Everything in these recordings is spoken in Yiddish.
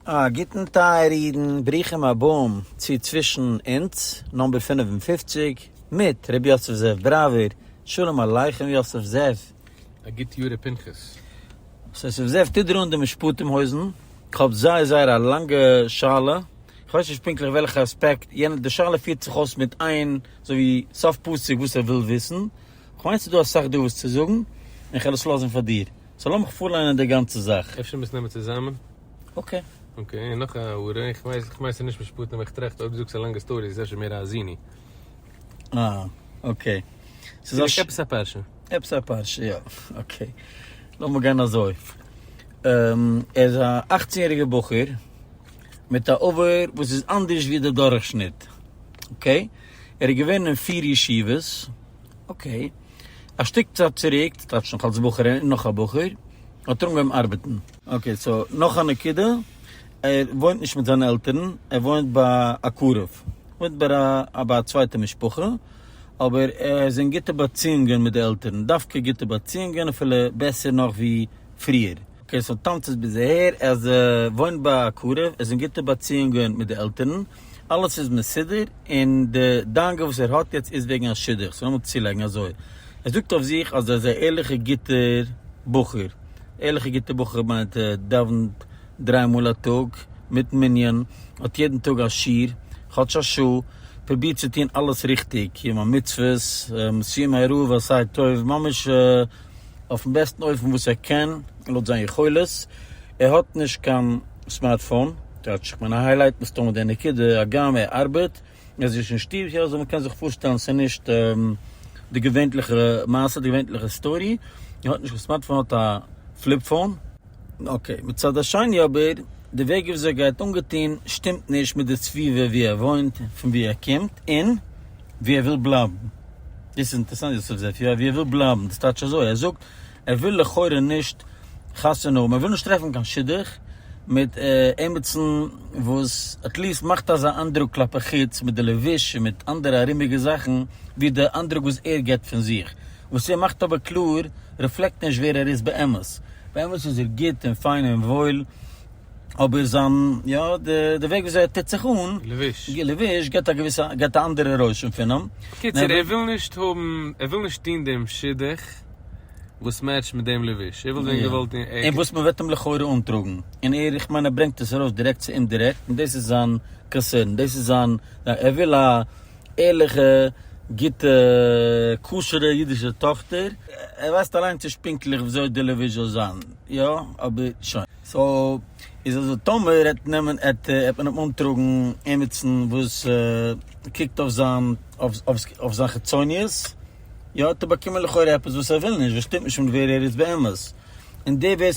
א גוטן טייערע אידן, ברוכים הבאים צו צווישן אונז נומבער פֿינף און פֿופֿציק מיט ר' יוסף זאב בראווער, שלום עליכם יוסף זאב. א גוט יאר ר' פנחס. ר' יוסף זאב טוט דיר אן די משפטים הויזן, כ'האב זייער זייער א לאנגע שאלה, כ'ווייס נישט פונקטליך וועלכע אספעקט, יענער די שאלה פירט זיך אויס מיט איין אזוי ווי סוף פסוק וואס ער וויל וויסן, כ'מיין ס'איז דא אסאך דא וואס צו זאגן, און כ'על עס לאזן פאר דיר. סאו לאמיך פארליינען די גאנצע זאך. אפשר מוזט נעמען צוזאמען? אקעי. אקעי, און נאך א הערה, איך ווייס, איך מיין ס'איז נישט משפטים, אבער איך טראכט אויב דו זאגסט א לאנגע סטארי איז עס אפשר מער א האזיני. אה, אקעי. ס'איז א ש. עפעס א פרשה. עפעס א פרשה, יא. אקעי. לאמיר גיין אזוי. ער איז א אכצן יעריגער בחור, מיט א עבר וואס איז אנדערש ווי די דורכשניט. אקעי. ער איז געווען אין פיר ישיבות. אקעי. א שטיק צייט צוריק, טייטש נאך אלס בחור און נאך א בחור, האט ער אנגעהויבן ארבעטן. אקעי סאו נאך א נקודה, ער וואוינט נישט מיט זיינע עלטערן, ער וואוינט ביי א קרוב, וואוינט ביי א ביי א צווייטע משפחה, אבער ער איז אין גוטע באציאונגען מיט די עלטערן, דווקא גוטע באציאונגען, אפילו בעסער נאך ווי. פריער. אקעי סאו טאנץ איז ביז אהער, אז ער וואוינט ביי א קרוב, ער איז אין גוטע באציאונגען מיט די עלטערן, אלעס איז מסודר, און די דאגה וואס ער האט יעצט איז וועגן א שידוך, סאו לאמיר צולייגן אזוי, ער זאגט אויף זיך אז ער איז א ערליכע גוטע בחור, ערליכע גוטע בחור מיינט ער דאווענט דריי מאל א טאג מיט מנין, האט יעדן טאג א שיעור כאטש א שעה, פרובירט צו טון אלעס ריכטיג, קיום המצוות, סיום הערוב עשה טוב, ממש. אויפן בעסטן אופן וואס ער קען לויט זיין יכולת, ער האט נישט קיין סמארטפאון, כאטש איך מיין ער היילייט מסתמא די נקודה, הגם ער ארבעט, ער איז נישט אין שטוב, יא אזוי מ'קען זיך פארשטעלן ס'איז נישט די געווענטליכע מעשה, די געווענטליכע סטארי, ער האט נישט קיין סמארטפאון ער האט א פליפ פאון. אקעי, מצד השני אבער, די וועג וויאזוי ער גייט אנגעטון שטימט נישט מיט די סביבה ווי ער וואוינט, פון ווי ער קומט, און ווי ער וויל בלייבן. דאס איז אינטערעסאנט יוסף זעפיו, ווי ער וויל בלייבן, דאס טייטש אזוי, ער זאגט ער וויל לכאורה נישט חתונה האבן, ער וויל נישט טרעפן קיין שידוך מיט עמיצן וואס עטליעסט מאכט אזא איינדרוק כלפי חוץ מיט די לבוש און מיט אנדערע ארומיגע זאכן ווי די איינדרוק וואס ער גיבט פון זיך. וואס ער מאכט אבער קלאר רעפלעקט נישט ווער ער איז באמת. באמת איז ער גוט און פיין און וואויל, אבער זיין, יא, די וועג וויאזוי ער טוט זיך אן, לבוש, גיבט א געוויסע, גיבט א אנדערע רושם פון אים. בקיצור, ער וויל נישט האבן, ער וויל נישט טון דעם שידוך וואס מעטשט מיט דעם לבוש, ער וויל זען געוואלד און ערגעץ. און וואס מען וועט אים לכאורה אנטראגן. און ער, איך מיין ער ברענגט עס ארויס דירעקט צו אומדירעקט, און דאס איז זיין קאנסערן, דאס איז זיין, ער וויל א. ערליכע, גוטע, כשר'ע אידישע טאכטער, ער ווייסט אליינס נישט פונקטליך וויאזוי די לעווי זאל זיין, יא, אבער שוין. סאו איז אזוי, טאמער ער וועט נעמען, עט מען אים אנטראגן עמיצן וואס קוקט אויף זיין, אויף זיין חיצוניות, יא, האט ער באקומען לכאורה עפעס וואס ער וויל נישט, וואס שטימט נישט מיט ווער ער איז באמת. און דער ווער,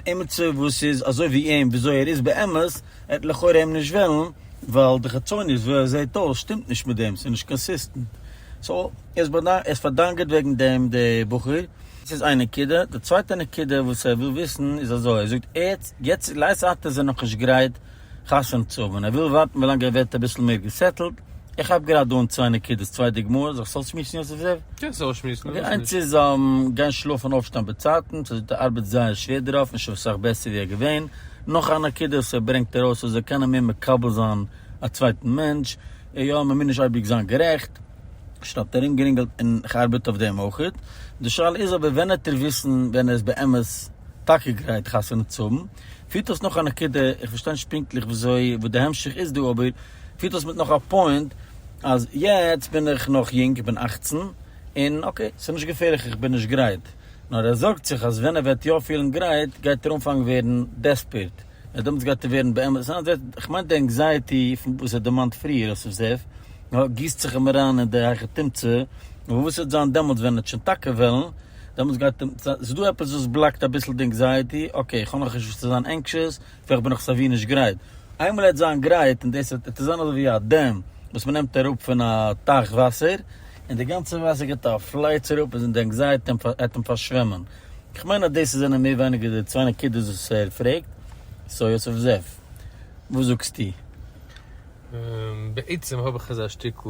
עמיצער וואס איז אזוי ווי אים, וויאזוי ער איז באמת, ער האט לכאורה אים נישט ווילן, ווייל די חיצוניות ווי ער זעהט אויס שטימט נישט מיט דעם, ס'איז נישט קאנסיסטענט, סאו ער האט פארדאנגערט וועגן דעם די בחור. דאס איז איין נקודה, די צווייטע נקודה וואס ער וויל וויסן איז אזוי, ער זאגט יעצט יעצט לעת עתה איז ער נאכנישט גרייט חתונה צו האבן, ער וויל ווארטן ווילאנג ער ווערט אביסל מער געסעטלט, איך כאפ גראד דא אן צוויי נקודות, צוויי דוגמאות, זאלסט אויסשמועסן יוסף זאב? קענסט אויסשמועסן, פארוואס נישט? די איינס איז גיין שלאפן און אויפשטיין באצייטנס, ער זאגט ער ארבעט זייער שווער דערויף, נישט אויף סאך בעסער ווי ער געווען, נאך א נקודה וואס ער ברענגט ארויס אז ער קען אים מער מקבל זיין א צווייטן מענטש, און יא מ'מוז נישט אייביג זיין גערעכט, שטאט ארומגערינגלט און כ'ארבעט אויף דעם אויך, די שאלה איז אבער ווען העט ער וויסן ווען ער איז באמת טאקע גרייט חתונה צו האבן, פירט דאס נאך א נקודה, איך פארשטיי נישט פונקטליך וויאזוי וואס די המשך איז דא אבער פירט דאס מיט נאך א פוינט אז יעצט בין איך נאך יונג איך בין אַכצן און אקעי ס'נישט געפערליך איך בין נישט גרייט, נאר ער זארגט זיך אז ווען ער וועט יא פילן גרייט גייט ער אנפאנגן ווערן דעספערט, און דעמאלטס גייט ער ווערן באמת אנזעצט, איך מיין די ענקזייעטי פון וואס ער דערמאנט פריער אויף סוף סעף, נאר גיסט זיך אים אריין אין די הייכע תמצ, און וואס וועט זיין דעמאלטס ווען ער וועט שוין טאקע וועלן, דעמאלטס גייט אים, ס'איז דא עפעס וואס בלאקט אביסל די ענקזייעטי, אקעי איך האב נאך נישט וואס צו זיין ענקשעס, וועלכע בין איך סייווי נישט גרייט. איינמאל ער וועט זיין גרייט, און דאס וועט זיין אזוי ווי א דעם וואס מען נעמט אראפ פון א טייך וואסער, און די גאנצע וואסער געבט א פלייץ אראפ און די ענקזייעטי וועט אים פארשוועמען. איך מיין אז דאס זענען מער ווייניגער די צוויי נקודות וואס ער פרעגט. סאו יוסף זאב, וואס זאגסטו? בעצם האב איך אזא שטיקל.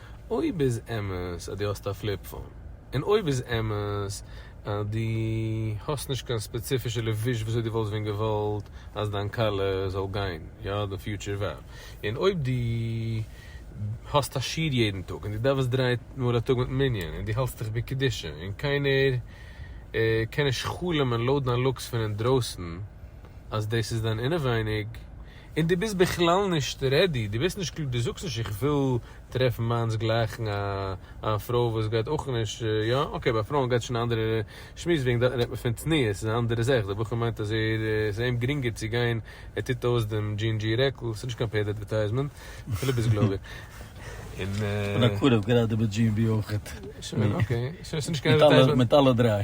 אויב איז אמת אז דו האסט א פליפ פאון, און אויב איז אמת אז דו האסט נישט קיין ספעציפישע לבוש וויאזוי דו וואלסט ווען געוואלט אז דיין קאלער זאל גיין, יא די פיוטשער ווער, און אויב דו האסט א שיעור יעדן טאג און דו דאווענסט דריי מאל א טאג מיטן מנין און דו האלסט דיך בקדושה און קיינער קען נישט חלומ'ן לויט דיין לוקס פון אינדרויסן אז דאס איז דיין אינעווייניג, און דו ביסט בכלל נישט רעדי, דו ביסט נישט קלאר, דו זאגסט נישט איך וויל טרעפן מיינס גלייכן, א פרוי וואס גייט אויך נישט, יא אקעי ביי פרויען גייט שוין א אנדערע שמועס, וועגן דעם רעדט מען פון צניעות, ס'איז א אנדערע זאך, דער בחור מיינט אז ער ס'איז אים גרינגער צו גיין, ער טוט אויס דעם דזשין דזשי רעקל, ס'איז נישט קיין פעיד אדווערטייזמענט, אפילו ביסט גלויביג, און. און א קרוב גראדע מיט דזשין בי אויכעט, מיט אלע דריי.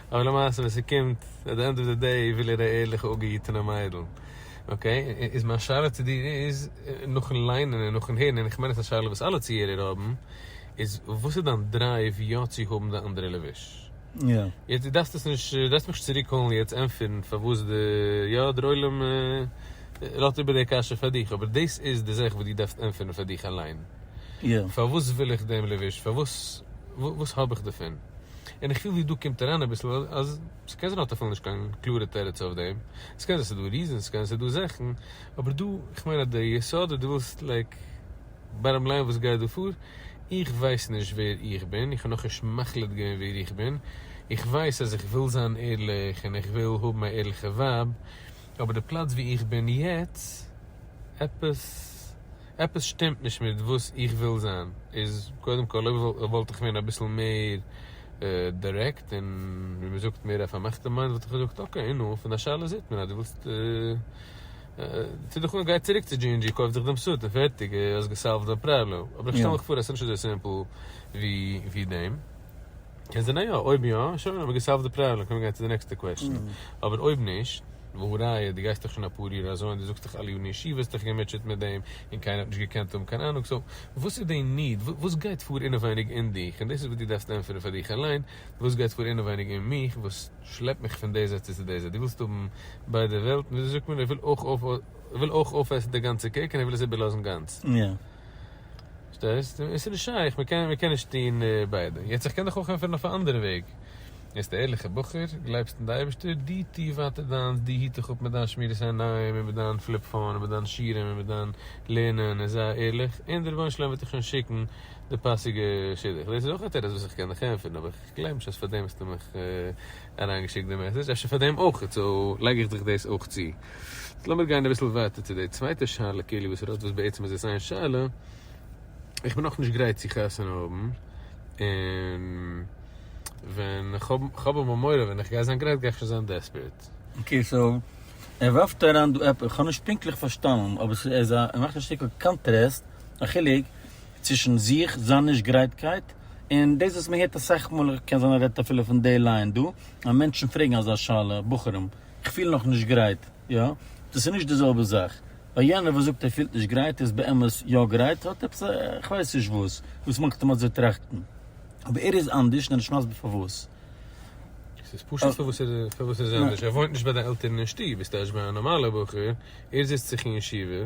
אבער למעשה ווען ס'קומט עט די ענד אוו די דעי וויל ער א ערליכע אפגעהיטענע מיידל, אקעי? איז מיין שאלה צו דיר איז, נאכן ליינען און נאכן הערן, און איך מיין עס איז א שאלה וואס אלע צוהערער האבן, איז וואס איז דיין דרייוו יא צו האבן די אנדערע לבוש? יעצט דו דארפסט עס נישט, דו דארפסט מיך נישט צוריק קאלן און יעצט ענטפערן פארוואס די, יא דער עולם לאזט איבער די קשיא פאר דיך, אבער דאס איז די זאך וואס דו דארפסט ענטפערן פאר דיך אליין, פארוואס וויל איך דעם לבוש? פארוואס, וואס האב איך דערפון? און איך פיל ווי דא קומט אריין אביסל אז ס'קען זיין האט אפילו נישט קיין קלארע תירוץ אויף דעם, ס'קען זיין ס'דא ריזענס ס'קען זיין ס'דא זאכן, אבער דא איך מיין אז די יסוד אז דו ווילסט לייק באטאם ליין וואס גייט דא פאר, איך ווייס נישט ווער איך בין, איך האב נאכנישט מחליט געווען ווער איך בין, איך ווייס אז איך וויל זיין ערליך און איך וויל האבן א ערליכע ווייב, אבער די פלאץ ווי איך בין יעצט עפעס. עפעס שטימט נישט מיט וואס איך וויל זיין, איז קודם כל אויב וואלט איך געווען אביסל מער דירעקט און ווי מען זאגט מער א פארמאכטע מיינד וואלט איך געזאגט אקעי און נו, פון א שאלה זעט מען אז דו ווילסט, טו דיך אן גיי צוריק צו דזשי ענד דזשי קויף דיך דעם סוט און פערטיג האסט געסאלווט דיין פראבלעם, אבער איך שטעל מיך פאר אז ס'נישט אזוי סימפל ווי דעם. קען זיין יא, אויב יא, שוין האב איך געסאלווט די פראבלעם, קען מען גיין צו די נעקסטע קוועסטשן, אבער אויב נישט, והא ראיה די גייסט דאך שוין אפאר יאר אזוי און די זאגסט דאך אלע יארן אין ישיבה האסט דיך געמוטשעט מיט דעם און קיינער האט נישט געקענט האבן קיין אנונג, סאו וואס איז די ניד, וואס גייט פאר אינעווייניג אין דיך, און דאס איז וואס דו דארפסט ענטפערן פאר דיך אליין, וואס גייט פאר אינעווייניג אין מיך וואס שלעפט מיך פון די זייט צו צו די זייט, דו ווילסט האבן ביידע וועלטן, וויאזוי זאגט מען, איך וויל אויך אויפעסן די גאנצע קעיק און איך וויל עס איבערלאזן גאנץ. פארשטייסט? עס איז נישט שייך, מען קען מען קען נישט טון ביידע, יעצט איך קען דיך אויך ענטפערן אויף א אנדערע וועג, ביסט א ערליכע בחור, גלייבסט אין די אייבערשטער, דו טוה ווייטער דיינס, דו היט דיך אפ מיט דיין שמירת עיניים און מיט דיין פליפ פאון און מיט דיינע שיעורים און מיט דיין לערנען און זיי ערליך, און דער רבונו של עולם וועט דיר שוין שיקן די פאסיגע שידוך, דאס איז אויך א תירוץ וואס איך קען דיך ענטפערן, אבער איך גלייב נישט אז פאר דעם האסטו מיך אריין געשיקט די מעסעדזש, אפשר פאר דעם אויך, סאו לייג איך דיך דאס אויך צו. יעצט לאמיר גיין אביסל ווייטער צו די צווייטע שאלה כאילו וואס ער האט וואס בעצם איז עס איין שאלה, איך בין נאכנישט גרייט צו חתונה האבן, און ווען איך האב איך האב אמאל מורא ווען איך גיי זיין גרייט גיי איך שוין זיין דעספערעט. אקעי סאו ער ווארפט אריין דא עפעס, איך האב נישט פונקטליך פארשטאנען אבער עס איז א ער מאכט א שטיקל קאנטרעסט, א חילוק צווישן זיך, זיין נישט גרייטקייט, און דאס וואס מען הערט אסאך מאל, קען זיין ער רעדט אפילו פון די ליין דא, אז מענטשן פרעגן אזא שאלה, בחורים, איך פיל נאך נישט גרייט, יא? דאס איז נישט די זעלבע זאך. ביי יענער וואס זאגט ער פילט נישט גרייט איז באמת יא גרייט, האט עפעס א איך ווייס נישט וואס, וואס מאכט אים אזוי טראכטן. אבער ער איז אנדערש און ער האט נישט מסביר פארוואס. עס איז פשוט פארוואס ער איז פארוואס ער איז אנדערש. ער וואוינט נישט ביי די עלטערן אין שטוב, איז טייטש ביי א נארמאלער בחור, ער זיצט זיך אין ישיבה,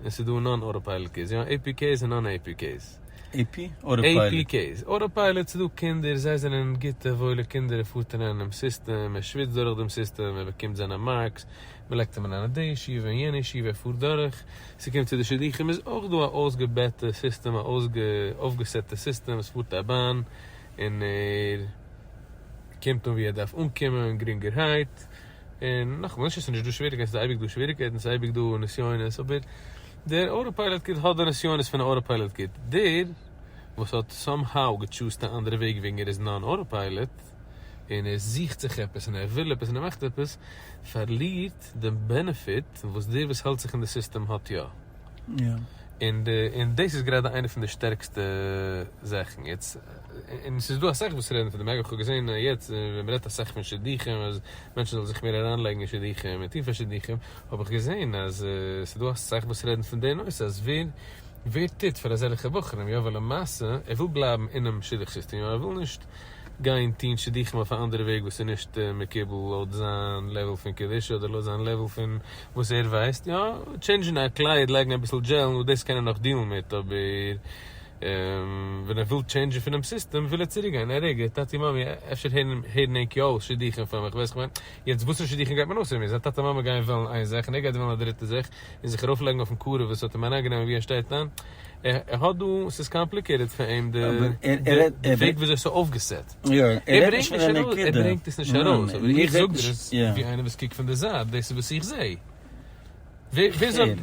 און ס'איז דא נאן אוטאפייליט קעיס, יא עי פי קעיס און נאן עי פי קעיס. עי פי אדער פיילוט? עי פי קעיס. אוטאפייליט ס'איז דא קינדער, זיי זענען גוטע וואוילע קינדער, ער פארט אריין אינעם סיסטעם, ער שוויצט דורך דעם סיסטעם, ער באקומט זיינע מארקס, מ'לייגט אים אריין אין די ישיבה און יענע ישיבה, ער פארט דורך, ס'קומט צו די שידוכים איז אויך דא א אויסגעבעטע סיסטעם, א אויפגעסעטע סיסטעם, עס פארט א באן און ער קומט אן ווי ער דארף אנקומען גרינגערהייט. און נאכאמאל, נישט אז ס'איז נישט דא שוועריגקייטן, ס'איז אייביג דא שוועריגקייטן, ס'איז אייביג דא נסיונות, אבער דער אוטאפייליאט קיט האט די נסיונות פון א אוטאפייליאט קיט. דער וואס האט סאם האו געטשוזט א אנדערע וועג וועגן ער איז נאן אוטאפייליאט, און ער זוכט זיך עפעס, און ער וויל עפעס, און ער מאכט עפעס, פארלירט די בענעפיט וואס דער וואס האלט זיך אין די סיסטעם האט יא. און דאס איז גראדע איינע פון די שטערקסטע זאכן. און ס'איז דא אסאך וואס רעדן פון דעם, אגב כ'האב געזען יעצט ווען מ'רעדט אסאך פון שידוכים אז מענטשן זאלן זיך מער אריינלייגן אין שידוכים און טון פאר שידוכים, האב איך געזען אז ס'איז דא אסאך וואס רעדן פון די נושא אז ווער ווער טוט פאר אזעלכע בחורים, יא ווייל למעשה ער וויל בלייבן אינעם שידוך סיסטעם, יא ער וויל נישט גיין טון שידוכים אויף א אנדערע וועג וואס איז נישט מקובל לויט זיין לעוול פון קדושה אדער לויט זיין לעוול פון וואס ער ווייסט, יא טשעינדזשן א קלייד לייגן אביסל דזשעל נו דאס קען ער נאך דיעלן מיט אבער און ווען ער וויל טשעינדזשען פונעם סיסטעם וויל ער צוריק גיין, ער ערגערט טאטי מאמי, אפשר הערן ענק יא אויס שידוכים פאר מיך, ווייס איך ווען, יעצט וואסערע שידוכים גייט מען אויסהערן, ווען זיין טאטע מאמע גייען וועלן איין זאך און ער גייט וועלן א דריטע זאך, און זיך ארויף לייגן אויפן קארב וואס האט אים אריין גענומען ווי ער שטייט היינט, ער האט דא, ס'איז קאמפליקעיטעד פאר אים די וועג וויאזוי ס'איז אויפגעסעט, ער ברענגט עס נישט ארויס, אבער איך זאג דיר עס ווי איינער וואס קוקט פון די זייט, דאס איז וואס איך זעה. וויאזוי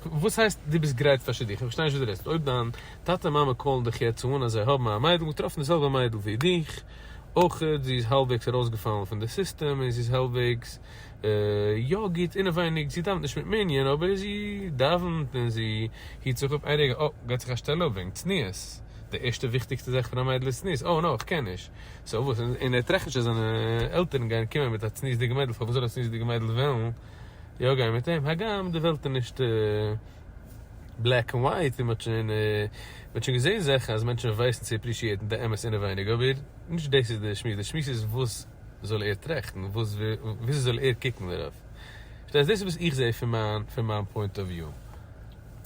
וואס הייסט דו ביסט גרייט פאר שידוך? איך פארשטיי נישט וואס דו רעדסט, אויב דיין טאטע און מאמע קאלן דיך יעצט אן אז זיי האבן א מיידל, געטראפן די זעלבע מיידל ווי דיך, אויך זי איז האלבוועגס ארויסגעפאלן פון די סיסטעם און זי איז האלבוועגס יא גוט אינעווייניג, זי דאוונט נישט מיט מנין אבער זי דאוונט און זי היט זיך אפ, איין רגע, אה, געט זיך א שטעלע אפ וועגן צניעות, די ערשטע וויכטיגסטע זאך פון א מיידל איז צניעות, אוי נאו איך קען נישט, סאו וואס, און ער טראכט נישט אז זיינע עלטערן גייען קומען מיט א צניעות'דיגע מיידל, פארוואס זאל א צניעות'דיגע מיידל וועלן. יא גיי מיט אים, הגם די וועלט איז נישט בלעק ענד ווייט, און מ'האט שוין מ'האט שוין געזען זאכן אז מענטשן ווייסן צו עפרישיעטן די אמת אינעווייניג, אבער נישט דאס איז די שמועס, די שמועס איז וואס זאל ער טראכטן, וואס וויאזוי זאל ער קוקן דערויף, פארשטייסט? דאס איז וואס איך זעה פון מיין פון מיין פוינט אוו וויו,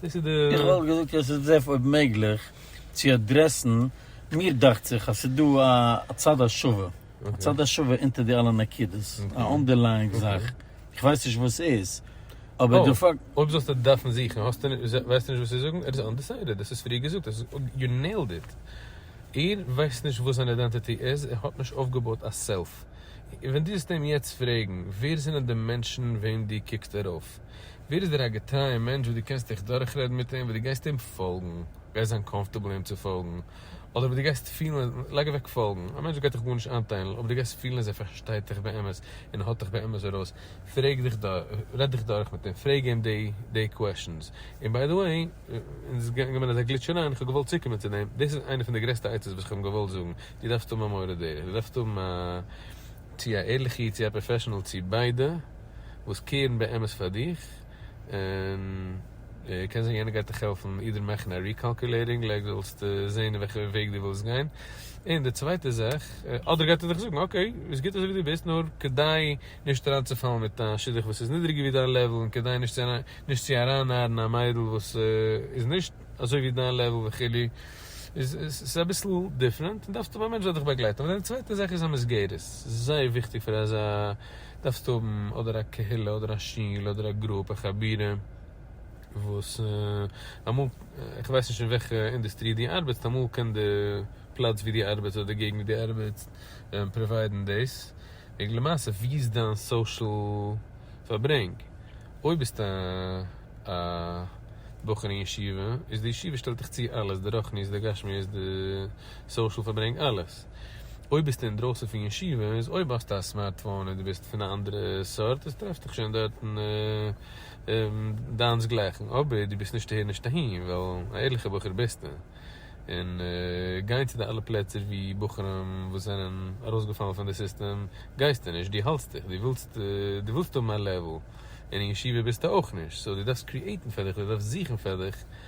דאס איז די. איך וואלט געזאגט אז עס דערף אויב מעגליך צו אדרעסן, מיר דאכט זיך אז ס'איז דא א צד השווה. א צד השווה אונטער די אלע נקודות, א אנדערלייאינג זאך, איך ווייס נישט וואס ס'איז, אבער די פאקט. אויב זאלסטו עס דארפן זוכן, האסטו נישט, ווייסטו נישט וואס צו זאגן? ער איז אנדעסיידעד, דאס איז פריער געזאגט, יו נעילד איט. ער ווייסט נישט וואס זיין אידענטיטי איז, ער האט נישט אויפגעבויט א סעלף. ווען דו זאלסט אים יעצט פרעגן, ווער זענען די מענטשן וועם דו קוקסט ארויף? ווער איז דער א געטרייער מענטש וואס דו קענסט דיך דורכרעדן מיט אים, וואס דו גייסט אים פאלגן, גייסט זיין קאמפארטעבל אים צו פאלגן, אדער וואס דו גייסט פילן, לייג אוועק פאלגן, א מענטש גייט דיך גארנישט איינטיילן, אויב דו גייסט פילן אז ער פארשטייט דיך באמת און ער האט דיך באמת ארויס, פרעג דיך דורך, רעד דיך דורך מיט אים, פרעג אים די קוועשאנס, און ביי די וועי, אונז איז געגאנגען אזא גליטש אריין, איך האב געוואלט צוקומען צו דעם, דאס איז איינע פון די גרעסטע עצות וואס איך האב אים געוואלט זאגן, דו דארפסט האבן א מורה דרך, דו דארפסט האבן א, צו א ערליכע איד צו א פראפעשענעל צו ביידע, וואס קעירן באמת פאר דיך, און קען זיין יענער גייט דיך העלפן אידער מאכן א ריקאלקולעיטינג לעג זאלסטו זעהן אין וועלכע וועג דו ווילסט גיין און די צווייטע זאך אדער גייט ער דיך זאגן אקעי איז גוט אזוי ווי דו ביסט נאר כדי נישט אריינצופאלן מיט א שידוך וואס איז נידריגער ווי דיין לעוול און כדי נישט נישט צו ארייננארן א מיידל וואס איז נישט אזוי ווי דיין לעוול וכו' איז עס אביסל דיפרענט און דארפסט האבן א מענטש זאל דיך באגלייטן אבער דיין צווייטע זאך איז א מסגרת ס'איז זייער וויכטיג פאר אזא דארפסטו האבן אדער א קהילה אדער א שול אדער א גרופ א חבירה וואס אמאל איך ווייס נישט אין וועלכע אינדוסטרי דו ארבעטסט אמאל קען די פלאץ ווי דו ארבעטסט אדער די געגנט ווי דו ארבעטסט פראוויידן דאס וועגן למעשה ווי איז דיין סאושעל פארברענג אויב ביסטו א בחור אין ישיבה איז די ישיבה שטעלט דיך צו אלעס די רוחניות די גשמיות די סאושעל פארברענג אלעס. אויב ביסטו אינדרויסן פון ישיבה איז אויב האסטו א סמארטפאון און דו ביסט פון א אנדערע סארט איז טרעף דיך שוין דארטן דיינס גלייכן אבער דו ביסט נישט אהער נישט אהין ווייל א ערליכע בחור ביסטו און גיין צו די אלע פלעצער ווי בחורים וואס זענען ארויסגעפאלן פון די סיסטעם גייסטו נישט דו האלטסט דיך דו ווילסט דו ווילסט האבן א לעוועל און אין ישיבה ביסטו אויך נישט סאו דו דארפסט קריעטן פאר דיך דו דארפסט זוכן פאר דיך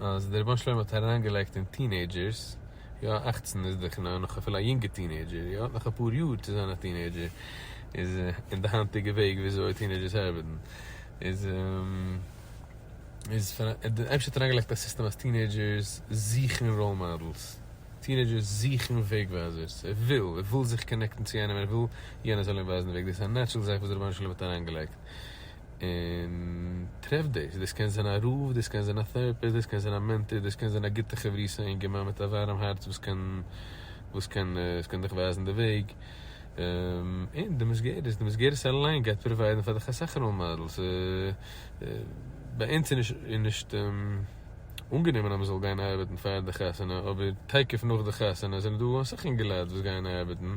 אז דער רבונו של עולם האט אריינגעלייגט אין טינעידזשערס, יא אַכצן איז דאך נאך אפילו א יונגע טינעידזשער, יא, נאך אפאר יאר צו זיין א טינעידזשער, איז אין די היינטיגע וועג ווי אזוי טינעידזשערס ארבעטן, איז איז דער אייבערשטער האט אריינגעלייגט א סיסטעם אז טינעידזשערס זוכן ראול מאדעלס, טינעידזשערס זוכן וועג ווייזערס, ער וויל, ער וויל זיך קאנעקטן צו איינעם, ער וויל יענער זאל אים ווייזן די וועג, דאס איז א נעטשרעל זאך וואס דער רבונו של עולם האט אריינגעלייגט, און טרעף דאס, דאס קען זיין א רב, דאס קען זיין א טעראפיסט, דאס קען זיין א מענטאר, דאס קען זיין א גוטע חברותא אינגערמאן מיט א ווארעם הארץ וואס קען וואס קען וואס קען דיך ווייזן די וועג, און די מסגרת, די מסגרת אליין גייט פראוויידן פאר דיך אסאך ראול מאדעלס, ביי אונז איז נישט אנגענומען אז מען זאל גיין ארבעטן פאר די חתונה, אבער תיכף נאך די חתונה זענען דא אסאך אינגעלייט וואס גייען ארבעטן,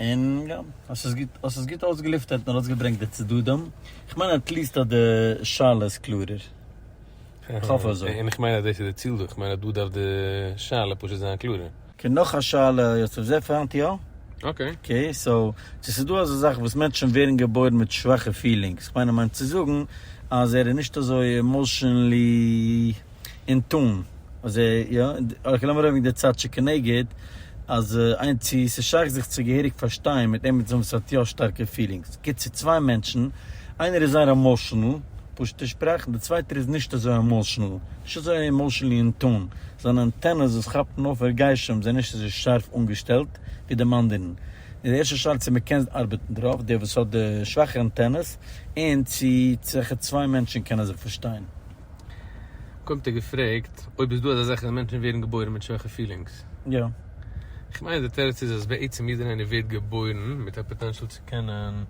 און יא, האסט עס גוט, האסט עס גוט אויסגעלופטערט און ארויסגעברענגט די צדדים, איך מיין עט ליעסט אז די שאלה איז קלארער, איך האף אזוי. און איך מיין אז דאס איז די ציל דא, איך מיין אז דא דארף די שאלה פשוט זיין קלארער. אקעי נאך א שאלה יוסף זעף היינט יא. אקעי. אקעי סאו צו ס'איז דא אזא זאך וואס מענטשן ווערן געבוירן מיט שוואכע פילינגס, איך מיין ער מיינט צו זאגן אז ער איז נישט אזוי עמאושענלי. און טאן אז ער יא אויך לאמיר אויב די צד שכנגד אז איין צו ס'איז שייך זיך צו געהעריג פארשטיין מיט עמעצן וואס האט יא שטארקע פילינגס גיט צו צוויי מענטשן איינער איז זייער עמאושענעל פשוטע שפראך די צווייטער איז נישט אזוי עמאושענעל נישט אזוי עמאושענלי אין טאן זיינע אנטענעס וואס כאפן אויף הרגשים זענען נישט אזוי שארף אנגעשטעלט ווי דעם אנדערן איז די ערשטע שאלה צו מ'קען ארבעטן דערויף דער וואס האט די שוואכע אנטענעס און צו צוויי מענטשן קענען זיך פארשטיין. קומט ער געפרעגט אויב איז דא אזא זאך אז מענטשן ווערן געבוירן מיט שויכע פילינגס. יא. איך מיין אז די תירוץ איז אז בעצם יעדער איינער ווערט געבוירן מיט א פאטענשאל צו קענען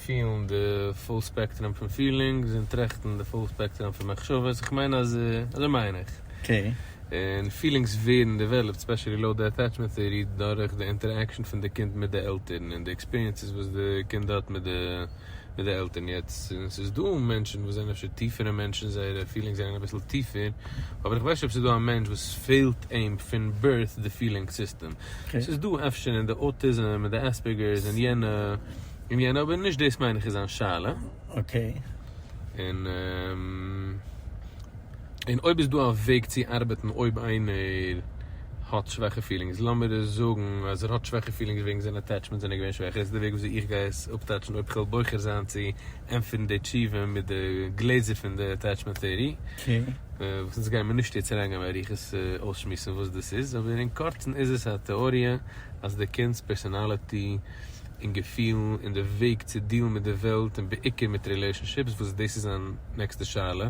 פילן די פול ספעקטראם פון פילינגס און טראכטן די פול ספעקטראם פון מחשבות, איך מיין אז אזוי מיין איך. אקעי. און פילינגס ווערן דעוועלאפט, ספעשעלי לויט די אטעטשמענט טעארי, דורך די אינטערעקשאן פון די קינד מיט די עלטערן און די עקספיריענסעס וואס די קינד האט מיט די. מיט די עלטערן יעצט און עס איז דא מענטשן וואס זענען אפשר טיפערע מענטשן זייערע פילינגס זענען אביסל טיפער אבער איך ווייס נישט אויב עס איז דא א מענטש וואס פעלט אים פון בירט די פילינג סיסטעם עס איז דא אפשר אין די אוטיזם און די עספערגערס און יענע און יענע אבער נישט דאס מיין איך איז זיין שאלה און. און אויב איז דא א וועג צו ארבעטן אויב איינער האט שוועכע פילינגס, לאמיר זאגן אז ער האט שוועכע פילינגס וועגן זיין אטעטשמענטס זענען געווען שוועכע, איז דא א וועג וויאזוי איך גיי עס אפטייטשן אויב כ'וועל בוחר זיין צו ענטפערן די תשובה מיט די גלעזער פון די אטעטשמענט טעארי, וואס אונז גיימער נישט יעצט אריינגיין באריכות אויסשמועסן וואס דאס איז, אבער אין קורצן איז עס א טעאריע אז די קינד'ס פערסאנאליטי און געפילן און די וועג צו דיעלן מיט די וועלט און בעיקר מיט רילעשאנשיפס, וואס דאס איז זיין נעקסטע שאלה,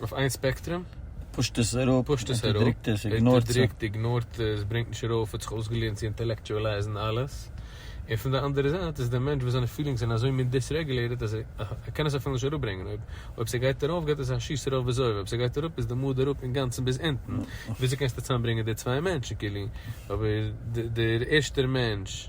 אויף איין ספעקטרום. פושט עס אראפ, פושט עס אראפ, אונטערדריקט עס, איגנארט עס. אונטערדריקט, איגנארט עס, ברענגט נישט ארויף, האט זיך אויסגעלערנט צו אינטעלעקטשועלייזן אלעס. און פון די אנדערע זייט איז דער מענטש וואס זיינע פילינגס זענען אזוי מין דיסרעגולעיטעד אז ער קען עס אפילו נישט אראפברענגען. אויב אויב ס'גייט ארויף געט עס א שיס ארויף וזהו, אויב ס'גייט אראפ איז די מאד אראפ אינגאנצן ביז אונטן. וויאזוי קענסטו צוזאמברענגען די צוויי מענטשן כאילו? אבער דער ערשטער מענטש.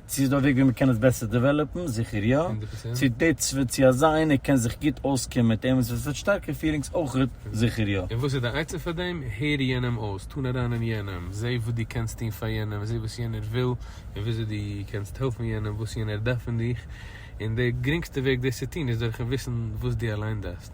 צו איז דא א וועג ווי מ'קען עס בעסער דעוועלאפן? זיכער יא. צו די צ ו צו אזא איינער קען זיך גוט אויסקומען מיט אים און ס'וועט וועט שטארקע פירינגס אויכעט? זיכער יא. און וואס איז די עצה פאר דעם? הער יענעם אויס, טון אריין אין יענעם, זע וואס דו קענסט טון פאר יענעם, זע וואס יענער וויל און וויאזוי דו קענסט העלפן יענעם, וואס יענער דארף פון דיך, און די גרינגסטע וועג דאס צו טון איז דורכ'ן וויסן וואס דו אליין דארפסט.